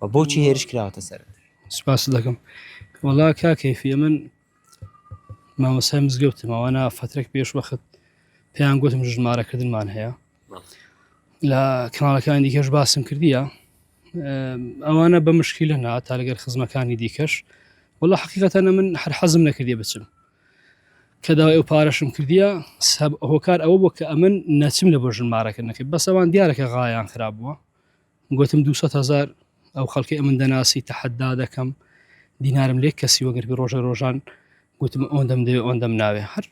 و بۆچی هێرش کراوەتە سەرت؟ سپاست دەکەم وەڵا کاک کەیفی من مامۆستای مزگەوتم ئەوانە فترێک پێش وەخت پێیان گوتم ژمارەکردنمان هەیە بەڵێ. لە کاناڵەکانی دیکەش باسم کردیە ئەوانە بە مشکیلە نا تا لەگەر خزمەکانی دیکەش وەڵا حقیقەتەنە من هەر حەزم نەکردی بچم کە داوای ئەو پارەشم کردیە سەب هۆکار ئەوە بۆ کە ئەمن نەچم لە بۆ ژمارەکردنەکە بەسەوان دیارەکە غایان خراب بووە گوتم دوو سەد هەزار ئەو خەڵکی ئەمن دەناسی تەحەدا دەکەم دینارم لێک کەسی وەگەربی ڕۆژە ڕۆژان گوتم ئەوەن دەم دەوێ ئەوەن دەم ناوێ هەر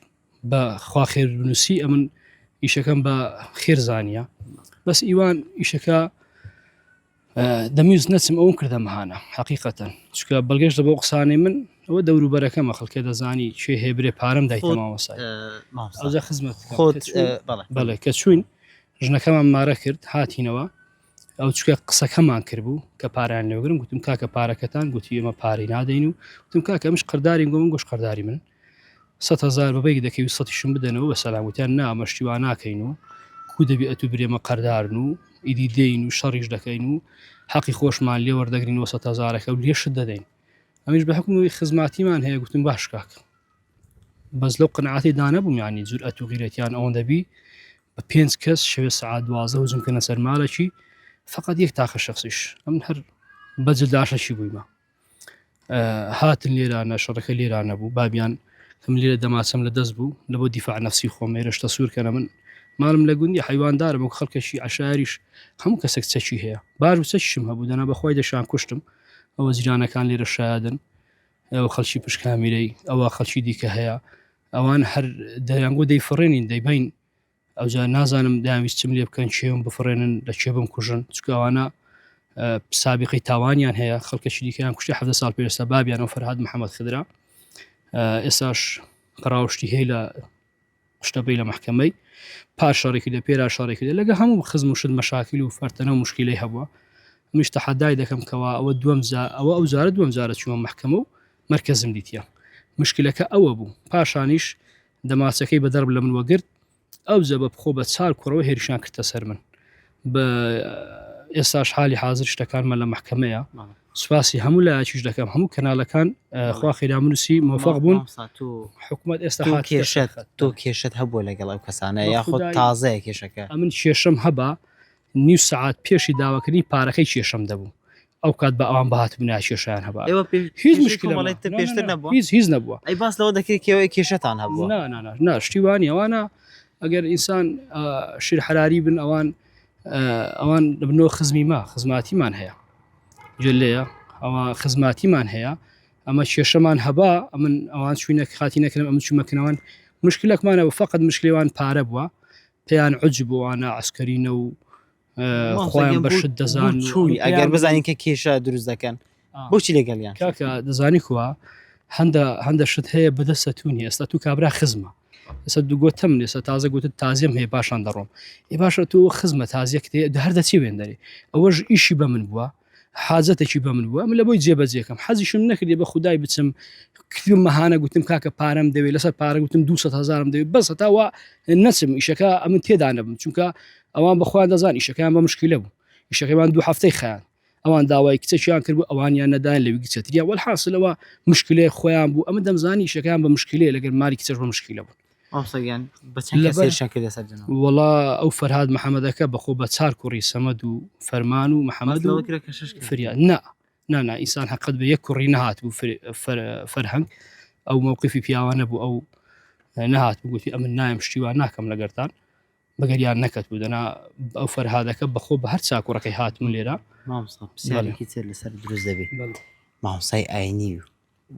بە خوا خێر بنووسی ئەمن ئیشەکەم بە خێر زانیە بەس ئیوان ئیشەکە دەمیوز نەچم ئەوم کردە مەهانە حقیقەتەن چکە بەڵگەش دە بۆ قسانەی من ئەوە دەوروبەرەکەمە خەڵکە دەزانی چێ هێبرێ پارەم دایتەماوەسای خزمەت بەڵێ کە چوین ژنەکەمان مارە کرد هاتینەوە ئەو چکە قسەکەمان کردبوو کە پاریان لێگرم گوتم کاکە پارەکەتان گوتی ئێمە پارەی نادەین و گوتم کاکە ئەمش قەرداری گۆم گوش قەرداری من سەد هزار بەبێک دەکەی و سەشم بدەنەوە بە سەلاموتیان نامەشتیوا ناکەین و کو دەبێ ئەتو برێمە قەردارن و ئیدی دێین و شەڕیش دەکەین و حەقی خۆشمان لێ وەردەگرین وە سەد هزارەکە و لێشت دەدەین ئەمیش بە حکومی خزماتیمان هەیە گوتم باش کاک بەس لەو قنعاتی دانەبوومیانی جور ئەتو غیرەتیان ئەوەن دەبی بە پێنج کەس شەوێ سەعات دوازدە هجوم کردنە سەر مالەکی فقط یەک تاخە شخصیش ئەم هەر بەجل داشەشی بوویمە هاتن لێرانە شەڕەکە لێرانە بوو بابیان کەم لێرە دەماچەم لە دەست بوو لە بۆ دیفاع نفسی خۆم ێرشتە سوورکەە من مالم لە گوندی حیواندارم و خەڵکەشی عشاریش هەموو کەسێک چەکی هەیە باش و چەکیشم هەبوو دەنا بەخوای دەشان کوشتم ئەوە جیرانەکان لێرە شایدن ئەو خەلکی پشکامیرەی ئەوە خەلکی دیکە هەیە ئەوان هەر دەیانگو دەی فڕێنین دەیبین ئەوجا نازانم داویست چم لێ بکەن چێم بفرێنن لە چێ بم کوژن چکەوانە سابقی تاوانیان هەیە خەڵکەشی دیکەیان کوشتی حە سال پێستا بابیان و فەرهاد محەممەد خدرا ئێساش پراوشتی هەیە لە شتەبی لە محکمەی پاشەڕێکی لە پێرا شارێکی لە لەگە هەموو خزم و شت مەشاکیل و فەرتەنە و مشکلی هەبووە مشتە حەدای دەکەم کەوا ئەوە دوم زا ئەوە ئەو زارە دوم زارە چووە محکمە و مەرکەزم دیتیە مشکلەکە ئەوە بوو پاشانیش دەماچەکەی بە دەرب لە من وەگرت ئەو جە بە بخۆ بە چار کوڕەوە هێرشان کردە سەر من بە ئێستاش حالی حاضر شتەکانمە لە محکمەیە سوپاسی هەموو لایەکیش دەکەم هەموو کەنالەکان خوا خێرامنووسی مۆفق بوون حکوومەت ئێستا کێشت تۆ کێشت هەبووە لەگەڵ ئەو کەسانە یاخود تازەیە کێشەکە ئەمن کێشم هەبا نیو سەعات پێشی داواکردنی پارەکەی کێشەم دەبوو ئەو کات بە ئەوان بهات بنا کێشیان هەبا ئێوە پێ- هیچ کێشەی مشکلە کۆمەڵێت نەبوو. پێشتر نا، نا، نا، نەبووە؟ هیچ هیچ نەبووە ئەی باس لەوە دەکرێت کێوەی کێشەتان هەبووە نا نا نا نا شتیوانی ئەوانە ئەگەر ئینسان آه، شیر حراری بن ئەوان آه، ئەوان بنۆ خزمی ما خزماتیمان هەیە جلەیە ئەوە خزماتیمان هەیە ئەمە کێشەمان هەبا ئەمن ئەوان چوینە خاتی نەکرم ئەم چومەکنەوەن مشکلەکمانە و فقط مشکلێوان پارە بووە پێیان عجب و ئانا عسکەرینە و خۆیان بە شت دەزان چووی ئەگەر بزانین کە کێشە دروست دەکەن بۆچی لەگەڵیان کاکە دەزانی کووە هەندە هەندە شت هەیە بەدەستە تونی ئێستا تو کابرا خزمە ئێستا دوگوتم لێستا تازە گوتت تازیم هەیە باشان دەڕۆم ی باشە تۆ خزمە تازیەک هەر دەچی وێندەری ئەوەش ئیشی بە من بووە حاجەتەکی بە من بووە من لە بۆی جێبەجێکەم حەزیشم نەکردی بە خودای بچم کفیم مەهانە گوتم کاکە پارەم دەوێت لەسەر پارە گوتم 200 هزارم دەوێت بەس هەتاوە نەچم ئیشەکە ئەمن تێدا نەبم چونکە ئەوان بەخوایان دەزان ئیشەکەیان بە مشکلە بوو ئیشەکەیان دوو هەفتەی خیان ئەوان داوای کچەکیان کرد بوو ئەوانیان نەدان لەوی کچەتریا وەحاصلەوە مشکلێ خۆیان بوو ئەمە دەمزانی ئیشەکەیان بە مشکلێ لەگەر ماری کچەش بە مشکلە بوو وەڵا ئەو فەرهاد محەمەدەکە بەخۆ بە چار کوڕی سەمەد و فەرمان و محەمەد و فریا نا نانا ئیسان حقت بە یەک کوڕی نهات بوو فەرهەنگ ئەو مووقفی پیاوانە بوو ئەو نهات بگوتی ئەمن نایم شتیوان ناکەم لەگەرتان بەگەریان نەکەت بوو دەنا ئەو فەرهادەکە بەخۆ بە هەر چاکوڕەکەی هاتمون لێرە مامسای ئاینی و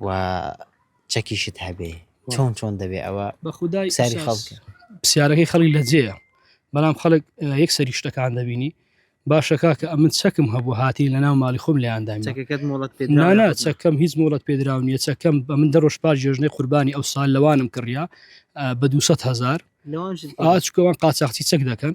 و چەکیشت هەبێ چۆن چۆن دەبێ ئەوە بە خودای ساری خەڵک پرسیارەکەی خەڵی لە جێە بەڵام خەڵک یەک سەری شتەکان دەبینی باشە کاکە ئەمن چەکم هەبوو هاتی لە ناو ماڵی خۆم لەیاندا نانا چەکەم هیچ مۆڵەت پێدراو نیە چەکەم بە من دەڕۆژ پار جێژنەی قوربانی ئەو سال لەوانم کڕیا بە 200 هزار ئاچکەوان قاچاختی چەک دەکەن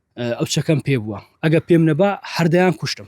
ئەو چەکەم پێ بووە ئەگە پێم نەبا هەردەیان کوشتم.